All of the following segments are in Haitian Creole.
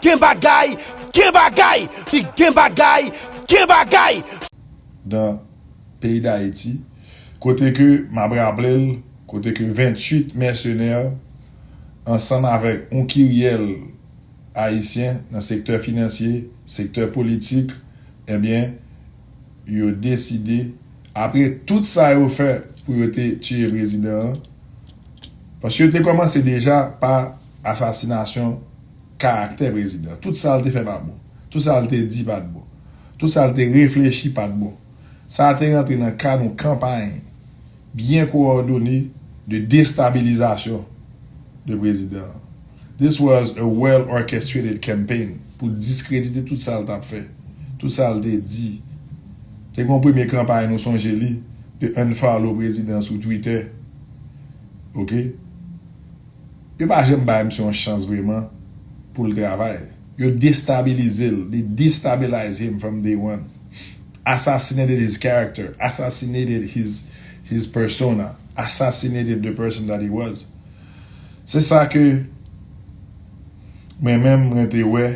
Gen bagay! Gen bagay! Si gen bagay! Gen bagay! Dan peyi Dayiti, kote ke m ap raple l, kote ke 28 mèsenè ansanm avèk yon kiryèl Ayisyen nan sektè finansye, sektè politik, ebyen yo deside, apre tout sa yo fè pou yo te tiye prezidan an, paske yo te kòmanse deja pa. asasinasyon karaktè prezidan. Tout sa l te fè pa t bon. Tout sa l te di pa t bon. Tout sa l te reflechi pa t bon. Sa te rantre nan kad yon kanpay byen kowòdone de destabilizasyon de prezidan an. This was a well orchestrated campaign pou diskredite tout sa l t ap fè, tout sa l te di. Te gen yon premye kanpay nou sonje li de unfollow prezidan sou Twitter. Ok. Yo pa janm bay misye yon chans vreman poul travay. Yo destabilize l, they destabilize him from day one. Assassinated his character, assassinated his his persona, assassinated the person that he was. Se sa ke mwen menm mwen te wè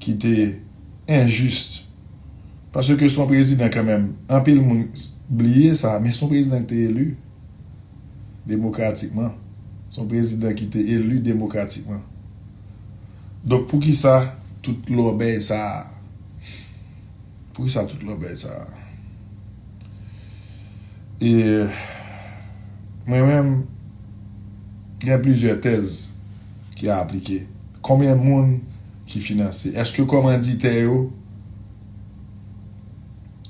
ki te injuste. Paske son prezidan kanmenm, anpil moun bliye sa, men son prezidan ki te elu. demokratikman, se yon prezidan ki te eli demokratikman. Donk poukisa tout lòbèy sa a? Poukisa tout lòbèy sa a? E mwen menm gen plizyè tèz ki a aplike. Konbyen moun ki finanse? Eske kòmanditè yo,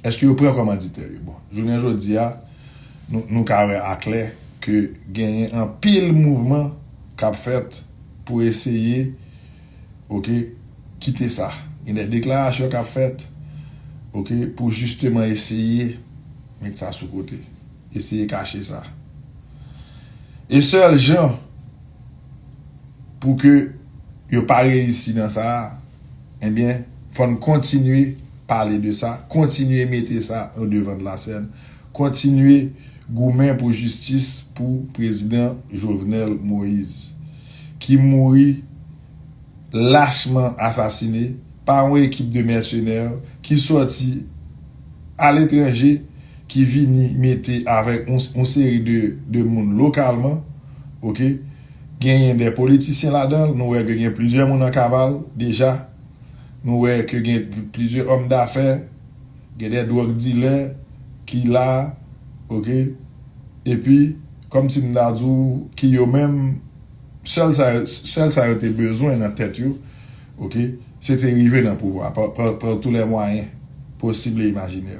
eske yo pran kòmanditè yo? Bon, jounen jodi a. Nou ka wè aklè ke genyen anpil mouvman kap fèt pou eseye ok kite sa. Gen de deklarasyon kap fèt ok pou jisteman eseye met sa sou kote. Eseye kache sa. E sèl jan pou ke yo pa reyisi nan sa a, enbyen fòn kontinye pale de sa, kontinye mete sa o devan de la sèn. Kontinye goumen pou jistis pou prezidan Jovenel Moise ki mouri lachman asasine pa yon ekip de mèsenè ki sòti aletranje ki vini mete avèk yon seri de moun lokalman ok genyen de politisyen ladanl nou wè ke gen plizyè moun an kaval deja nou wè ke gen plizyè òm dafè Gen de drug dealer ki la ok epi komsi m ta di w ki yo menm sèl sa yo sèl sa yo te bezwen nan tèt yo ok se te rive nan pouvwa par tou lè mwayen posib e imajine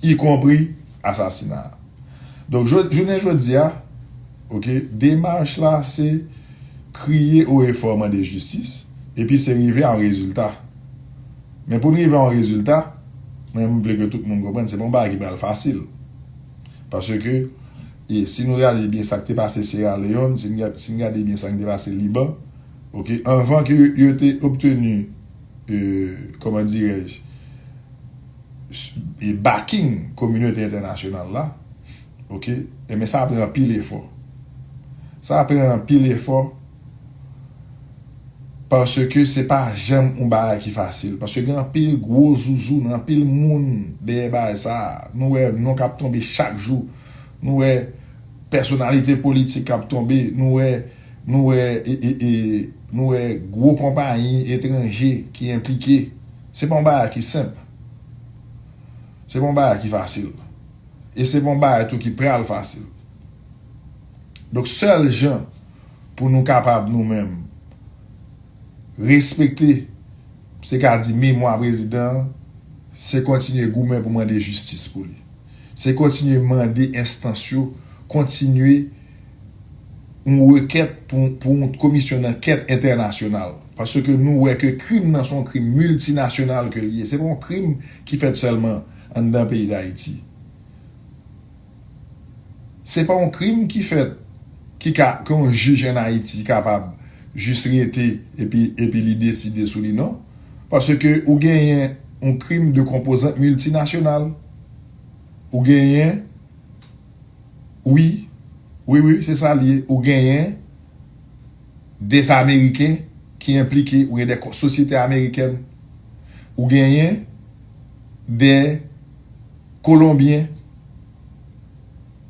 y konpri asasina donk jounen jodia ok demach la se kriye o e fò mande jistis epi se rive a yon rezilta. Men pou n rive a yon rezilta, mwen m vle ke tout moun konprann se pa yon bagay ki pral fasil. Paske, si nou reyalize byen sa k te pase Sierra Leone, si n si n gade byen sa k te pase Liban, ok, anvan ke yo te obtenu, kòman dirèj, backing kominote entènasyonal la, ok, enben sa pran anpil efò. Sa pran anpil efò. Paske se pa janm yon bagay ki fasil. Paske gen anpil gwo zuzu nan anpil moun dèyè bagay sa a. Nou wè non k ap tonbe chak jou. Nou wè pèsonalite politik k ap tonbe. Nou wè, nou wè e, e, e, nou wè gwo konpayi etranje ki enplike. Se pa yon bagay ki senp. Se pa yon bagay ki fasil. E se pa yon bagay tou ki pral fasil. Donk sèl jan. Pou nou kapab nou menm respekte se ka di memwa prezidan an, se kontinye goumen pou mande jistis pou li. Se kontinye mande enstans yo kontinye yon rekèt pou yon komisyon dankèt entènasyonal. Paske nou wè ke krim nan se yon krim miltinasyonal ke li ye. Se pa yon krim ki fèt sèlman anndan peyi Dayiti. Se pa yon krim ki fèt ki ka ke yon jij an Ayiti kapab jis rete epi epi li deside sou li non. Paske ou genyen yon krim de konpozant miltinasyonal. Ou genyen wi, wi wi se sa li ye, ou genyen des ameriken ki enplike, ou gen de sosyete amerikèn, ou genyen de. Kolonbyen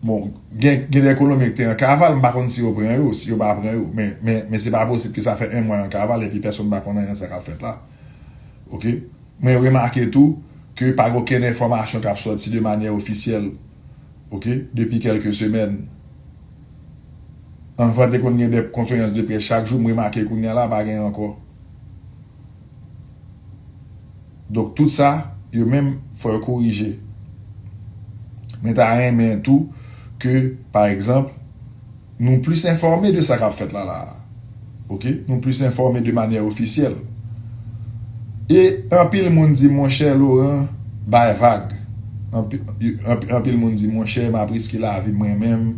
Bon gen gen de kolonbyen ki te an kaval m pa konn si yo pran yo si yo pa pran yo men men se pa posib ke sa fè 1 mwa yo an kaval epi pèsonn pa konn anyen sa kap fèt la ok mwen remake tou ke pa gen okenn enfòmasyon kap sòti de manyè ofisyèl ok depi kèlke semèn anvan te konn gen de konferans de près chak jou m remake kounya la pa gen ankò. Donk tout sa yo menm fò yo korije. Mwen ta renmen tou ke pa egzanp nou plis enfòme de sa k ap fèt la la a. Ok, nou plis enfòme de manyè ofisyèl. E anpil moun di monchè Laurent. Bay vag. Anpil moun di monchè m ap riske lavi mwen menm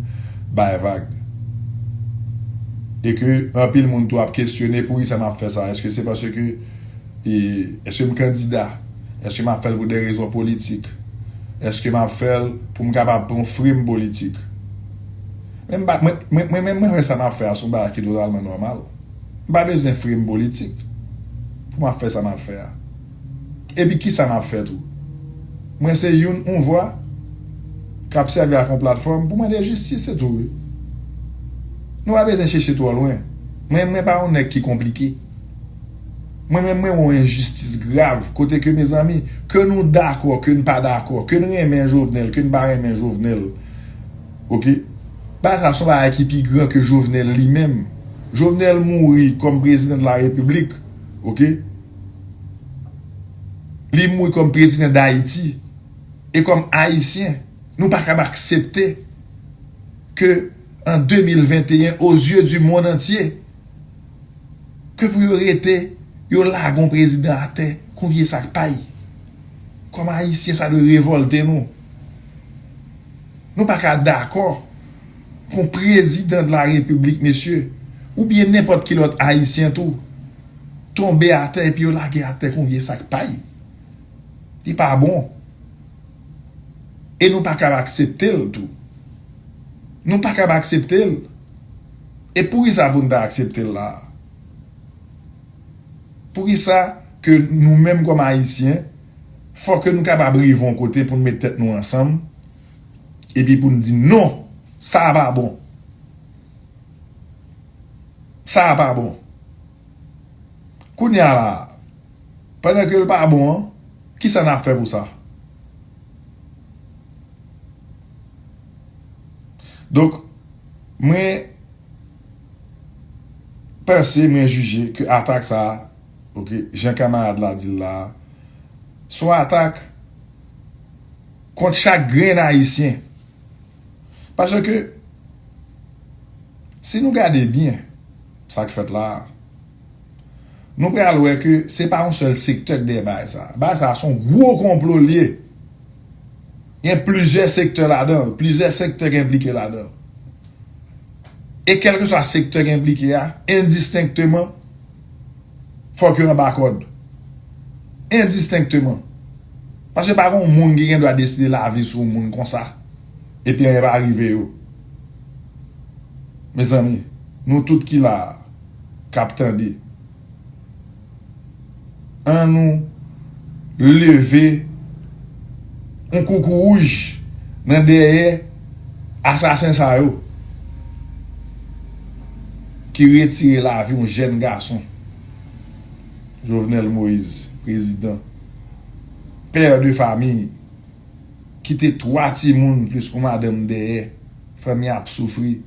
bay vag. E ke anpil moun tou ap kesyone poukisa m ap fè sa. Eske se paske eske m kandida? Eske m ap fè l pou de rezon politik? Eske m ap fè l pou m kapab pran yon frime politik? Mwen menm mwen wè sa m ap fè a se yon bagay ki totalman nòmal. M pa bezwen frime politik pou m ap fè sa m ap fè a. Epi kisa map fè tou? Mwen se youn on vwa kap sèvi ak on platfòm pou mande jistis se tou wi. Nou pa bezyen chèche twò lwen. Mwen mwen pa on nèg ki konplike. Mwen menm mwen wè on enjistis grav kote ke mezanmi ke nou dakò ke n pa dakò ke n renmen Jovenel ke n pa renmen Jovenel ok bagay sa son bagay ki pi gran ke Jovenel li menm. Jovenel mouri kòm prezidan de la repiblik ok. Li mouri kòm prezidan Dayiti. E kòm Ayisyen, nou pa kab aksepte ke an 2021, o zye di mond antye, ke pou yo rete, yo lage yon prezidan atè kon vye sak pay. Kòm Ayisyen, sa dwe revòlte nou. Nou pa ka dakò pou yon prezidan de la Repiblik, mesye, oubyen nenpòt ki lòt Ayisyen tou, tonbe atè epi yo lage atè kon vye sak pay li pa bon e nou pa kab aksepte l tou nou pa kab aksepte l e poukisa pou n ta aksepte l la a poukisa ke nou menm kòm ayisyen fò ke nou kapab rive yon kote pou n met tèt nou ansanm epi pou n di non sa a pa bon. sa a pa bon. Kounya la a, pandan ke l pa bon an, ki sa n ap fè pou sa? Donk, mwen panse, mwen jije ke atak sa a, ok, jan kamarad la di l la a, s on atak kont chak grenn Ayisyen. Paske, si nou gade byen sa k fèt la a, nou pral wè ke se pa yon sèl sektè ki dèyè bagay sa a. Bagay sa a se yon gwo konplo li ye. Gen plizyè sektè ladan l, plizyè sektè ki enplike ladan l. E kèlkeswa sektè ki enplike a, endistenkteman, fòk yo anba kòd. Endistenkteman. Paske pa gon moun ki gen dwa deside lavi sou yon moun konsa, epi anyen pa rive yo. Mezanmi, nou tout ki la a, k ap tande. An nou leve yon koukouwouj nan dèyè asasen sa yo ki retire lavi yon jèn gason. Jovenel Moise, prezidan, pè de fami, kite 3 timoun plis yon madanm dèyè, fanmi an ap soufri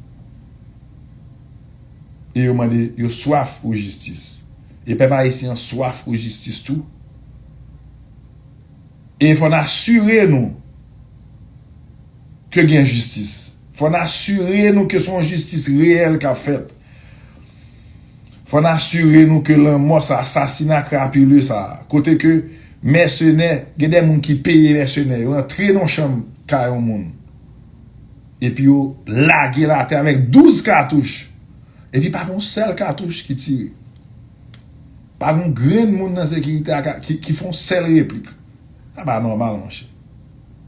e yo mande, yo swaf pou jistis. E pèp ayisyen an swaf pou jistis tou. E fò n asire nou ke gen jistis. Fò n asire nou ke se yon jistis reyèl k ap fèt. Fò n asire nou ke lanmò sa a, asasina krapile sa a, kote ke mèsenè, gen de moun ki peye mèsenè yo antre nan yon chanm kay yon moun. Epi yo lage l atè avèk 12 katouch. Epi pa gen yon sèl katouch ki tire. Pa gen yon grenn moun nan sekirite a ki fè yon sèl replik. Sa pa nòmal monchè.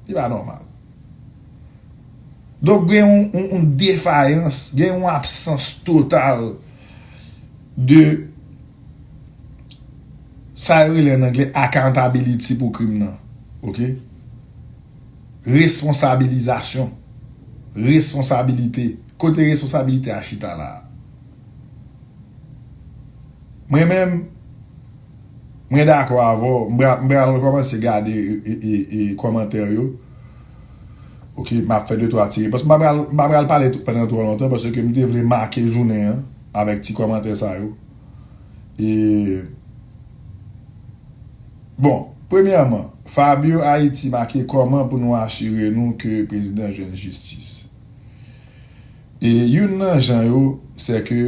Li pa nòmal. Donk gen yon defayans, gen yon absans total de sa yo rele an angle accountability pou krim nan. Ok? Responsabilizasyon, responsabilite, kote responsabilite a chita la a? Mwen menm, mwen dakò avè w, m pral rekòmanse gade kòmantè yo, ok, m ap fè de twa ti repons, m pa pral pale pandan twò lontan paske m te vle make jounen an avèk ti kòmantè sa yo. Bon, premyèman, Fabio Haiti make kòman pou nou asire nou ke prezidan jwenn jistis. E youn nan jan yo, sè ke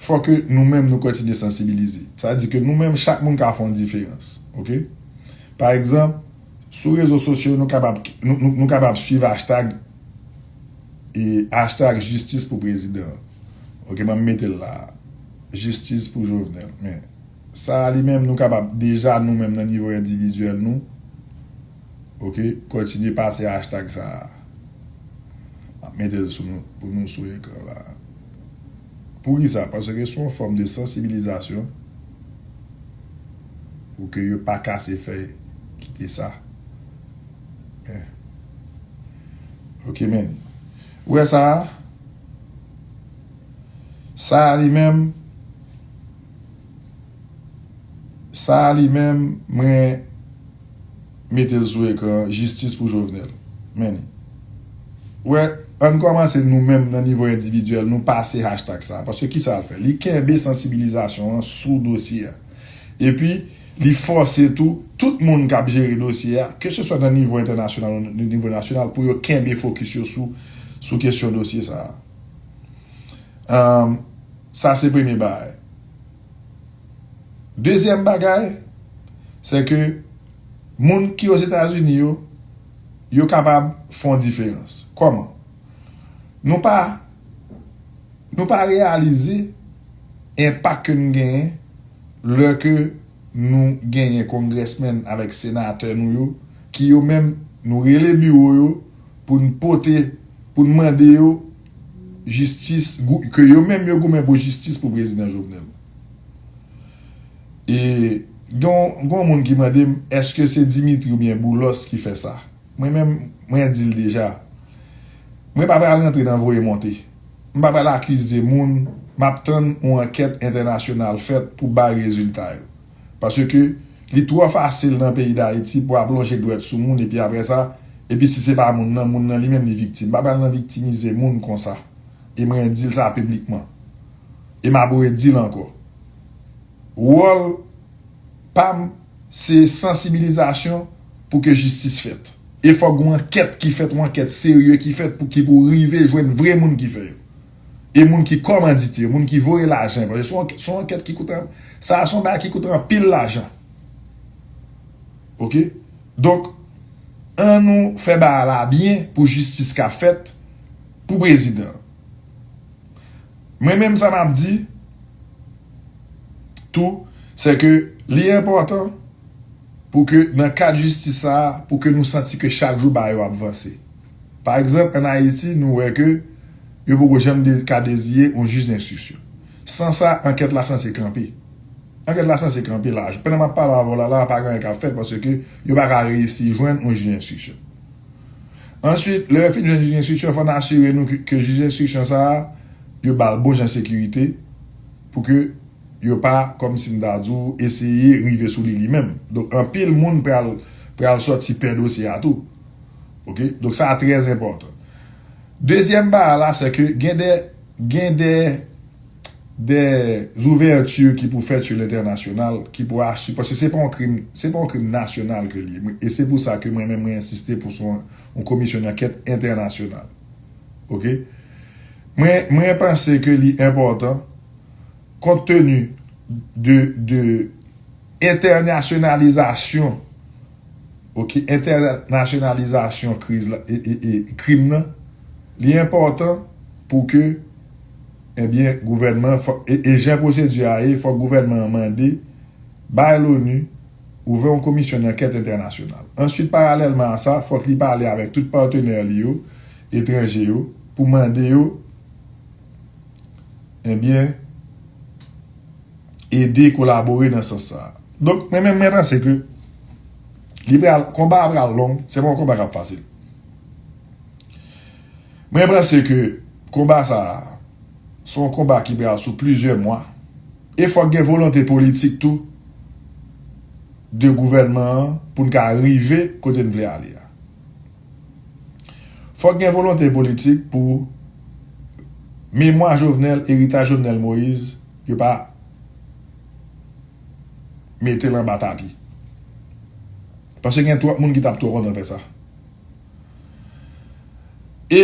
fò ke nou menm nou kontinye sansibilize. Sa di ke nou menm chak moun ka fè yon diferans. Ok? Pa egzanp, sou rezo sosyo nou kapab nou kapab swiv hashtag hashtag jistis pou prezidan. Ok, banm mete l la a. Jistis pou Jovenel. Men sa a li menm nou kapab deja nou menm nan nivo endividyèl nou ok kontinye pase hashtag sa a. M ap mete l sou nou pou nou sou ekran la a. Poukisa? Paske se yon fòm de sansibilizasyon pou ke yo pa kase fèy kite sa. Men ok men. Ou wè sa a? Sa a li menm Sa a li menm mwen mete l sou ekran an jistis pou Jovenel men li ou wè ann kòmanse nou menm nan nivo endividyèl nou pase hashtag sa a paske kisa l fè li kenbe sansibilizasyon an sou dosye a epi li fòse tou tout moun k ap jere dosye a ke se swa nan nivo entènasyonal ou nan nivo nasyonal pou yo kenbe fokis yo sou kesyon dosye sa a. Ahm sa se premye bagay. Dezyèm bagay se ke moun ki ozetazini yo, yo kapab fon diferans. Koman? Nou pa nou pa reyalize enpak ke nou genyen lè ke nou genyen kongresmen avèk senatè nou yo ki yo menm nou rele biwo yo. pou n pote, pou n mande yo jistis, ke yo menm yo goumen pou jistis pou Prezidan Jovenel. E gen yon moun ki mande m, eske se Dimitri ou byen Boulos ki fè sa? Mwen menm, mwen di l deja, mwen pa pral rantre nan voye monte. M pa pral akize moun, m ap tann yon ankèt entènasyonal fèt pou bay rezilta yo. Paske li twò fasil nan peyi Dayiti pou ap lonje dwèt sou moun epi aprè sa, epi si se pa moun nan, moun nan li menm li viktim. M pa pral nan viktimize moun konsa. E mwen di l sa piblikman. E m ap redi l ankò. Wòl pa m se sansibilizasyon pou ke jistis fèt. E fòk gen yon ankèt ki fèt, yon ankèt serye ki fèt pou ki pou rive jwenn vre moun ki fè yo. E moun ki kòmandite yo, moun ki voye lajan yo, paske se yon ankèt ki koute, sa a se yon bagay ki koute anpil lajan. Ok? Donk, an nou fè bagay la byen pou jistis ka fèt pou prezidan an. Mwen menm sa m ap di tou, se ke li enpòtan pou ke nan kad jistis sa a, pou ke nou santi ke chak jou bagay yo ap vanse. Pa egzanp, ann Ayiti, nou wè ke yo poko janm ka deziye yon jij denstriksyon. San sa, ankèt la sanse kanpe. Ankèt la sanse kanpe la a. Jis pandan m ap pale avè w la la a, pa gen anyen k ap fèt paske yo pa ka reyisi jwenn yon jij denstriksyon. Answit, lè yo fin jwenn jij denstriksyon, fò n asire nou ke jij denstriksyon sa a, yo ba l bon jan sekirite pou ke yo pa, kòm si m ta di w, eseye rive sou li li menm. Donk, anpil moun pral sòti pè dosye a tou. Ok, donk sa a trè enpòtan. Dezyèm ba a la, se ke gen de, gen de, de zouvèti ki pou fèt sou lentènasyonal, ki pou asire, paske se pa yon krim, se pa yon krim nasyonal ke li ye. E se pou sa ke mwen menm mwen ensiste pou son yon komisyon dankèt entènasyonal. Ok. Mwen, mwen panse ke li enpòtan, kont teni de, de entènasyonalizasyon. Ok entènasyonalizasyon kriz la e krim nan li enpòtan pou ke ebyen gouvènman e jan pwosedi a ye fòk gouvènman an mande bay loni ouvè yon komisyon dankèt entènasyonal answit paralèlman a sa fòk li pale avèk tout patenè li yo etranje yo pou mande yo ebyen ede kolabore nan sans sa a. Donk mwen menm mwen panse ke li pral konba a pral long, se pa yon konba kap fasil. Mwen panse ke konba sa a se yon konba ki pral sou plizyè mwa e fòk gen volonte politik tou de gouvènman an pou n ka rive kote n vle ale a. Fòk gen volonte politik pou memwa Jovenel, eritaj Jovenel Moïse yo pa mete l anba tapi. Paske gen twòp moun ki t ap twò kontan fè sa. E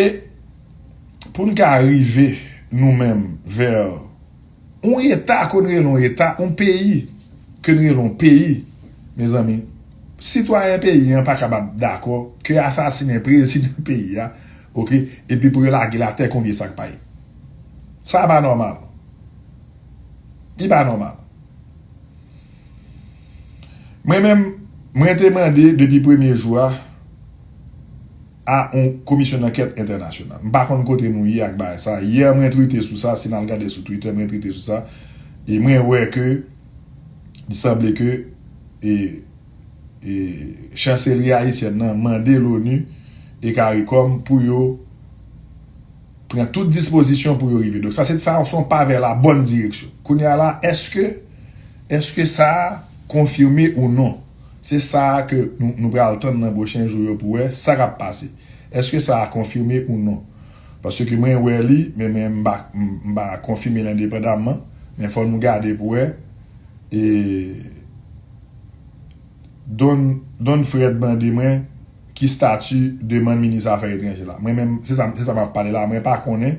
pou n ka rive nou menm vè yon eta ke n rele yon eta, yon peyi ke n rele yon peyi, mezanmi, sitwayen peyi an pa kapab dakò ke yo asasinen prezidan peyi a, oke, epi pou yo lage l atè kon vye sak pay. Sa pa nòmal. Li pa nòmal. Mwen menm, mwen te mande depi premye jou a a yon komisyon dankèt entènasyonal. M pa konn kote nou ye ak bagay sa. Yè mwen twite sou sa, si n al gade sou Twitter mwen twite sou sa, e mwen wè ke li sanble ke e e chanselri ayisyèn nan mande l'ONU e caricom pou yo Pran tout dispozisyon pou yo rive. Donk sa se t sa se yon pa vè la bòn direksyon. Kounye a la eske eske sa a konfime ou non? Se sa a ke nou nou pral tann nan pwochen jou yo pou wè sa k ap pase. Eske sa a konfime ou non? Paske mwen wè li men men m pa m pa konfime l endepandaman men fò nou gade pou wè e. Don Don Fred mande mwen ki stati demann minis zafè etranje la. Mwen menm se sa se sa map pale la mwen pa konnen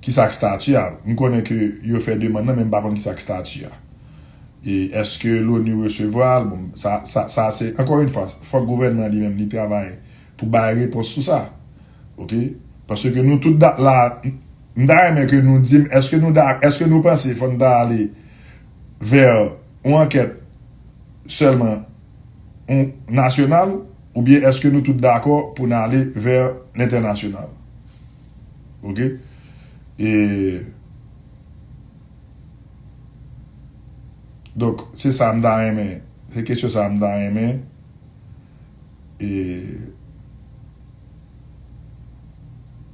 ki sak stati a. M konnen ke yo fè demann nan men m pa konn ki sak stati a. E eske Loni resevwa l bon sa sa sa se ankò yn fwa fòk gouvènman li menm li travay pou bay repons sou sa ok. Paske nou tout da la m ta renmen ke nou di m eske nou da eske nou panse fò n ta ale vè yon ankèt sèlman yon nasyonal oubyen èske nou tout dakò pou n ale vè lentènasyonal? Ok. E. Donk, se sa m ta renmen, se kesyon sa a m ta renmen e.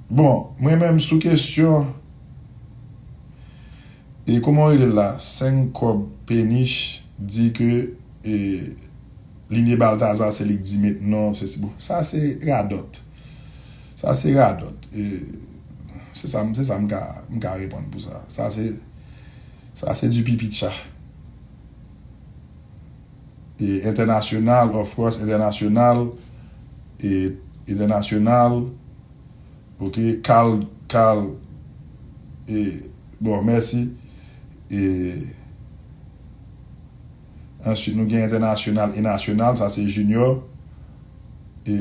Bon, mwen menm sou kesyon. E komanw relel la 5 kob penich di ke e linie baltazar se lik di met non sesi bon sa se radòt sa se radòt e se sa se sa m ka m ka reponn pou sa sa se sa se di pipi tcha e entènasyonal of course entènasyonal e entènasyonal. Ok kal kal e bon mèsi e answit nou gen entènasyonal e nasyonal sa se junior e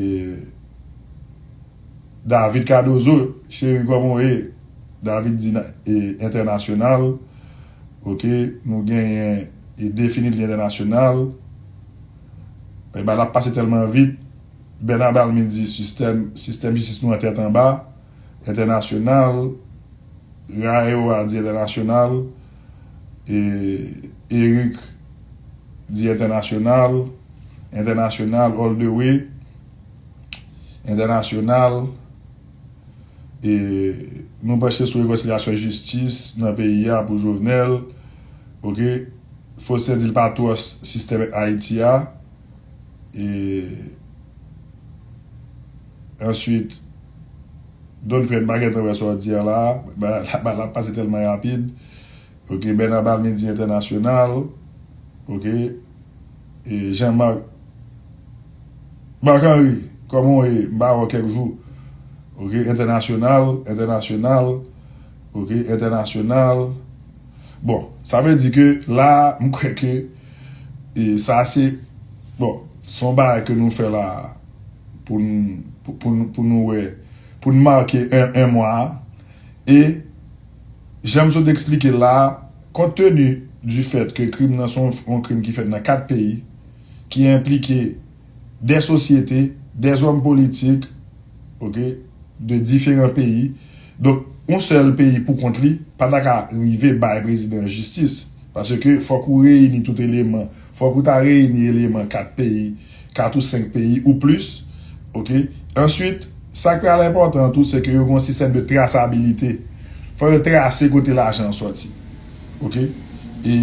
David kadozo cheri koman w ye David di e entènasyonal ok nou genyen e definit li entènasyonal e bay la ap pase tèlman vit. Bernard Balmy di sistèm sistèm jistis nou an tèt anba, entènasyonal, RAEO a di entènasyonal, e Eric di entènasyonal, entènasyonal all the way, entènasyonal, e nou panche sou rekonsilyasyon jistis nan peyi a pou Jovenel, ok, Faustin di l pa twòs sistèm Ayiti a. e answit Don fè mpa gentan wè sa w di a la bagay la ap pase tèlman rapid ok Bernard Balmy di entènasyonal ok e Jean Marc Marc Henry kòman w ye mpa wè w kèk jou ok entènasyonal entènasyonal ok entènasyonal bon sa vle di ke la mkwè ke. E sa se, bon, se yon bagay ke nou fè la a pou n, pou n, pou nou wè, pou n make 1 mwa a. E jan m sot eksplike la a, kont teni di fèt ke krim nan se yon krim ki fèt nan 4 peyi, ki enplike. dè sosyete, dè zòm politik, ok, de diferan peyi. Donk, yon sèl peyi pou kont li pa ta ka rive bay prezidan an jistis. Paske fòk ou reyini tout eleman. Fòk ou ta reyini eleman 4 peyi, 4 ou 5 peyi ou plis, ok. Answit, sa k pral enpòtan tou, se ke yo gen yon sistèm de trasabilite. Fòk yo trase kote lajan an sòti. ok e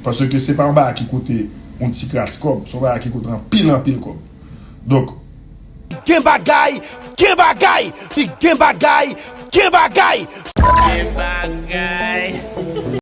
paske se pa yon bagay ki koute yon ti kras kòb se yon bagay ki koute anpil anpil kòb donk. Gen bagay gen bagay si gen bagay gen bagay si gen bagay.